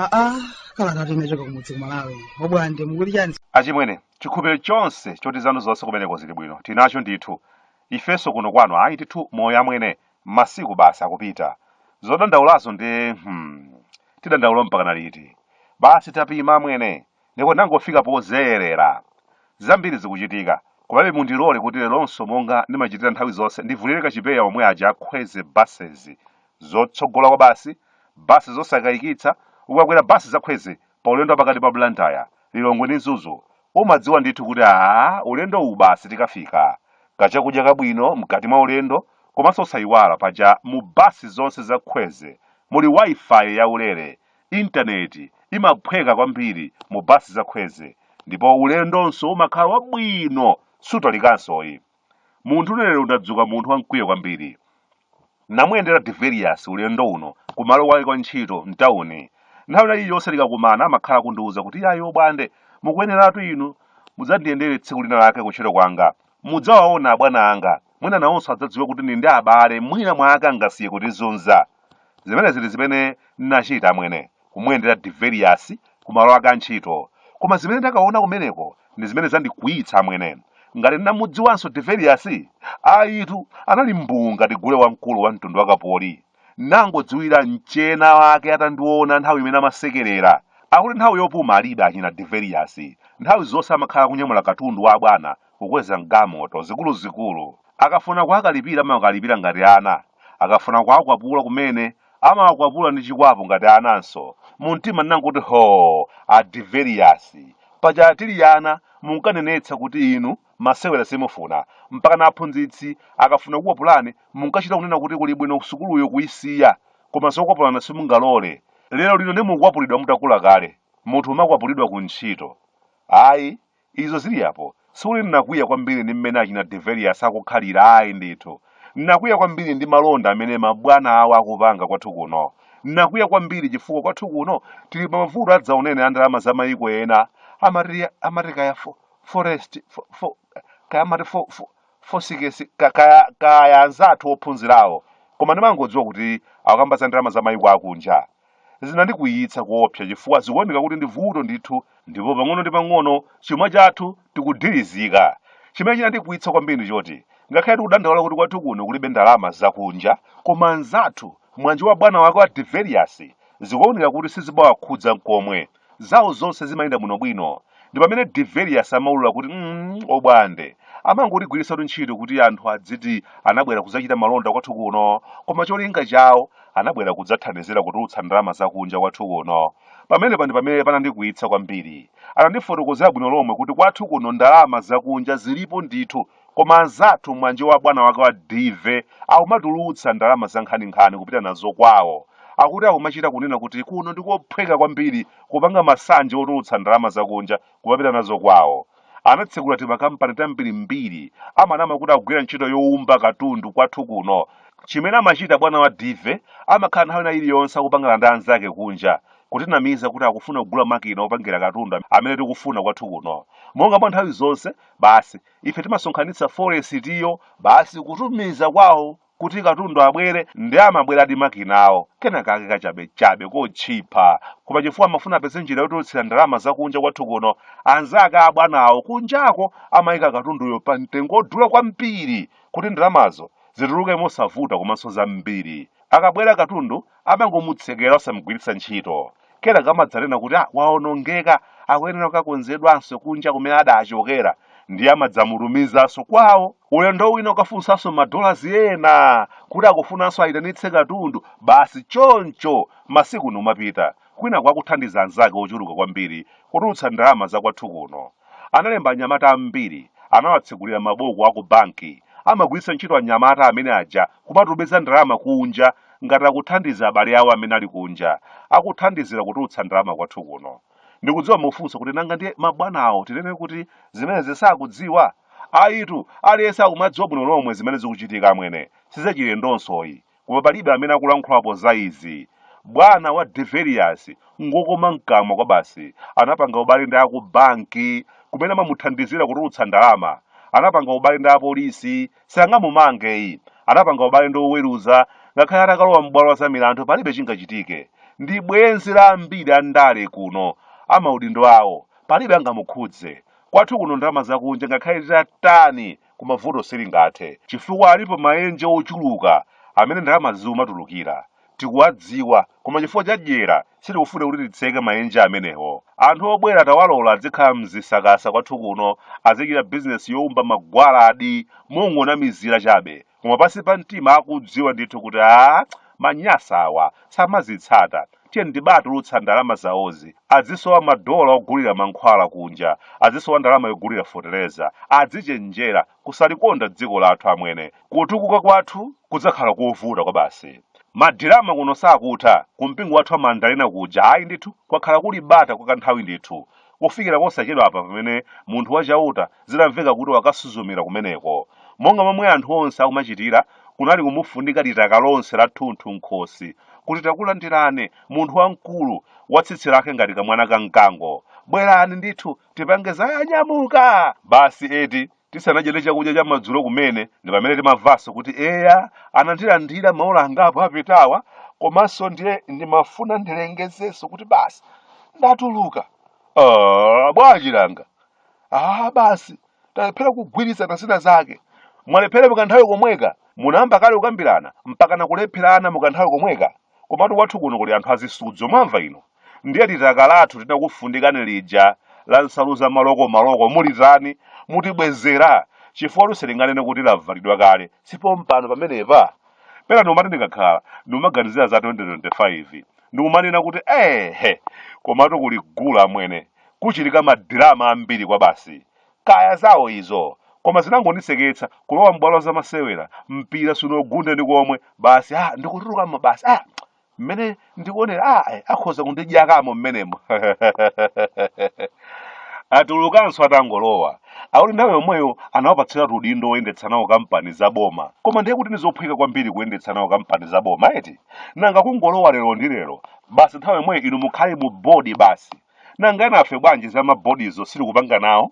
aa kalata inachoka kumudzi kumalawi obwande mukuti chani achimwene chikhupiro chonse choti zanu zonse kumeneko zili bwino tinacho ndithu ifenso kuno kwanu ayi ndithu moyo amwene Masiku basi akupita. Zodandaulazo nde hmm. Tidandaula mpakana liti? Basi tapima amwene. Ndipo ndangofika pozolowera. Zambiri zikuchitika. Komabe mundilole kuti leronso monga ndimachitira nthawi zonse ndivulire kachipewa omwe aja a Kwezy Buses. Zotsogola kwabasi, bus zosakayikitsa, ukakwera bus za Kwezy paulendo wapakati pa Blantyre, Lilongwe ndi Mzuzu, Umadziwa ndithu kuti aah ulendo uwu basi tikafika. Kachakudya kabwino mkati mwa ulendo komanso osayiwala paja mu bus zonse za Kwezy muli Wi-Fi ya ulere, internet imaphweka kwambiri mu bus za Kwezy ndipo ulendonso umakhala wabwino sutalikansoyi. Munthu lero ndadzuka munthu wa mkwiyo kwambiri. Namuyendera Deveriyasi ulendo uno ku malo kwake kwa ntchito m'tauni. Nthawi ina iliyonse tikakumana amakhala akundiwuza kuti iyayi Obwande, mukuyeneratu inu mudzandiyendere tsiku lina lake kuntchito kwanga. Mudzawaona abwana anga. Mwina nawonso adzadziwe kuti ndili ndi abale, mwina mwake angasiye kutizunza. Zimenezi ndi zimene ndinachita amwene. kumuyendera Deveriyasi ku malo ake a ntchito. Koma zimene ndakaona kumeneko ndi zimene zandikwiyitsa amwene. Ngati ndinamudziwanso Deveriyasi? Ayitu, anali mbuu ngati gule wamkulu wa mtundu wa kapoli. Nangodziwira mchena wake atandiona nthawi imene amasekerera. Akuti nthawi yopuma alibe achina Deveriyasi. Nthawi zonse amakhala akunyamula katundu wa abwana kukweza m'galimoto zikuluzikulu. Akafuna kuwakalipira amawakalipira ngati ana. Akafuna kuwakwapula kumene Amawakwapula ndi chikwapu ngati ananso. Mumtima ndinangoti hoo! A Deveriyasi. Paja tili ana munkanenetsa kuti inu masewera simufuna. Mpakana aphunzitsi akafuna kukukwapulani munkachita kunena kuti kuli bwino sukuluyo kuisiya. Koma zokwapulana simungalole. Lerolino nde mukukwapulidwa mutakula kale. Munthu umakwapulidwa kuntchito. Ayi, Izo ziri apo. Sikuti ndinakwiya kwambiri ndi mmene achina Deveriyasi akukhalira, ayi ndithu. Ndinakwiya kwambiri ndi malonda amene mabwana awo akupanga kwathu kuno. Ndinakwiya kwambiri chifukwa kwathu kuno tiri pa mavuto adzaoneni a ndalama za mayiko ena. Amati, amati kaya fo, forest, fo, fo, kaya amati fo, fo, fosikesi, ka- kaya, kaya anzathu ophunzirawo. Koma ndimangodziwa kuti akukamba za ndalama za mayiko akunja. Zinandikwiyitsa koopsa chifukwa zikuoneka kuti ndi vuto ndithu ndipo pang'ono ndi pang'ono chuma chathu chikudilizika. Chimene chinandikwiyitsa kwambiri ndi choti ngakhale tikudandaula kuti kwathu kuno kulibe ndalama zakunja, koma anzathu, mwanje wa bwana wake wa Deveriyasi, zikuoneka kuti sizimawakhudza n'komwe. Zawo zonse zimayenda bwinobwino. Ndi pamene Deverlius amaulula kuti, mm, obwande. Amangotigwiritsatu ntchito kuti anthu adziti anabwera kudzachita malonda kwathu kuno, koma cholinga chawo anabwera kudzathandizira kutulutsa ndalama zakunja kwathu kuno. Pamenepa ndi pamene panandikwiyitsa kwambiri. Anandifotokozera bwino lomwe kuti kwathu kuno ndalama zakunja zilipo ndithu. Koma anzathu mmwanje wa bwana wake wa DV akumatulutsa ndalama za nkhaninkhani kupita nazo kwawo. Akuti akumachita kunena kuti kuno ndi kophweka kwambiri kupanga masanje otulutsa ndalama zakunja kumapita nazo kwawo. Anatsekula timakampani tambirimbiri, amanama kuti akugwira ntchito youmba katundu kwathu kuno. Chimene amachita bwana wa DV amakhala nthawi ina iliyonse akupangana ndi anzake kunja kutinamiza kuti akufuna kugula makina opangira katundu amene tikufuna kwathu kuno. Monga mwa nthawi zonse, basi ife timasonkhanitsa forexiyo basi kutumiza kwawo kuti katundu abwere ndi amabweradi makinawo kena kake kachabechabe kotchipa koma chifukwa amafuna apeze njira yotulutsira ndalama zakunja kwathu kuno anzake a abwanawo kunjako amayika katunduyo pa mtengo wodula kwambiri kuti ndalamazo zituluke mosavuta komanso zambiri akabwera katundu amangomutsekera osamugwiritsa ntchito kenaka amadzanena kuti ah, waonongeka akuyenera kukakonzedwanso kunja kumene adachokera ndiye amadzamutumizanso kwawo ulendo wina akafunsanso madolasi ena kuti akufunanso ayitanitse katundu basi choncho masiku numapita kwina kwakuthandiza anzake ochuluka kwambiri kutulutsa ndalama zakwathu kuno analemba anyamata ambiri anawatsegulira mabuku aku banki amagwiritsa ntchito anyamata amene aja kumatumiza ndalama kunja ngati akuthandiza abale awo amene ali kunja akuthandizira kutulutsa ndalama kwathu kuno. Ndikudziwa mufunsa kuti nanga ndiye mabwanawo tinene kuti zimenezi sakudziwa? Ayitu, aliyense akumadziwa bwino lomwe zimene zikuchitika amwene, sizachilendonsoyi. Koma palibe amene akulankhulapo za izi. Bwana wa Deverius ngokoma mkamwa kwabasi, anapanga ubale ndi aku banki kumene amamuthandizira kutulutsa ndalama, anapanga ubale ndi apolisi sangamumangeyi anapanga ubale ndi oweruza ngakhale atakalowa m'bwalo la za milandu palibe chingachitike ndi bwenzi la ambiri a ndale kuno amaudindo awo palibe angamukhudze kwathu kuno ndalama zakunja ngakhale titatani koma vuto silingathe chifukwa alipo maenje ochuluka amene ndalama zimatulukira tikuwadziwa koma chifukwa cha dyera sitikufuna kuti titseke maenje amenewo. Anthu obwera tawalola adzikhala mzisakasa kwathu kuno azichita bizinesi youmba magwaladi mongonamizira chabe koma pansi pa mtima akudziwa ndithu kuti aa Manyasawa samazitsata tiyeni tibatulutsa ndalama zawozi adzisowa madola ogulira mankhwala kunja adzisowa ndalama yogulira fotereza adzichenjera kusalikonda dziko lathu amwene kutukuka kwathu kudzakhala kovuta kwabasi madirama kuno sakutha kumpingo wathu wa mandalena kuja ayi ndithu kwakhala kuli bata kwa kanthawi ndithu kufikira posachedwa apa pamene munthu wa chauta zinamveka kuti wakasuzumira kumeneko monga momwe anthu onse akumachitira kunali kumufundika litaka lonse lathunthu nkhosi kuti takulandirani munthu wamkulu wa tsitsi lake ngati kamwana ka mkango bwerani ndithu tipange zoyanyamuka basi eti tisanadyere chakudya cha madzulo kumene ndi pamene timamvanso kuti eya anandilandira maola angapo apitawa komanso ndiye ndimafuna ndilengezenso kuti basi ndatuluka Ah, bwanji langa ah basi talephera kugwirizana zina zake mwalephera mukanthawi komweka munayamba kale kukambirana mpaka nakulepherana mukanthawi komweka komatu kwathu kuno kuli anthu azisudzo mwamva inu Ndiye litaka lathu tidakufundikani lija la nsalu za malokomaloko mulitani? Mutibwezera? Chifukwatu sitinganene kuti lavalidwa kale, si pompano pamenepa? Pena ndikumati ndikakhala, ndikumaganizira za 2025. Ndikumanena kuti eehe! Komatu kuli gule amwene. Kuchitika madirama ambiri kwabasi. Kaya zawo izo! Koma zinangondiseketsa, kulowa m'bwalo la zamasewera, mpira sunaugunde ndi komwe, basi ha! Ndikutulukamo basi ha! mmene ndikuonera ah, eh, akhoza kundidyakamo mmenemo atulukanso atangolowa akuti nthawi yomweyo anawapatsira udindo woyendetsa nawo kampani za boma koma ndiye kuti ndizophweka kwambiri kuyendetsa nawo kampani za boma eti nanga kungolowa lero ndi lero basi nthawi yomweyo inu mukhale mu bodi basi nanga enafe bwanji za mabodizo sitikupanga nawo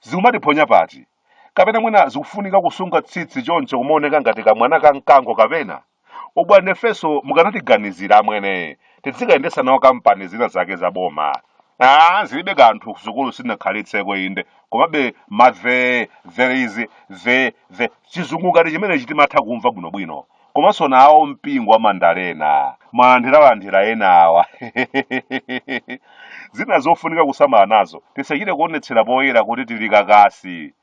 zikumatiphonya pati kapena mwina zikufunika kusunga tsitsi choncho kumaoneka ngati kamwana ka mkango kapena Abwana nafenso mukanatiganizira amwene tidzikayendetsa nawo kampani zina zake za boma ah zilibe kanthu kusukulu sinakhalitseko inde komabe ma the there is the the chizungu ngati chimenechi timatha kumva bwinobwino komanso nawo mpingo wa mandalena mmalandiralandira enawa zina zofunika kusamala nazo tisachite kuonetsera poyera kuti tili kakasi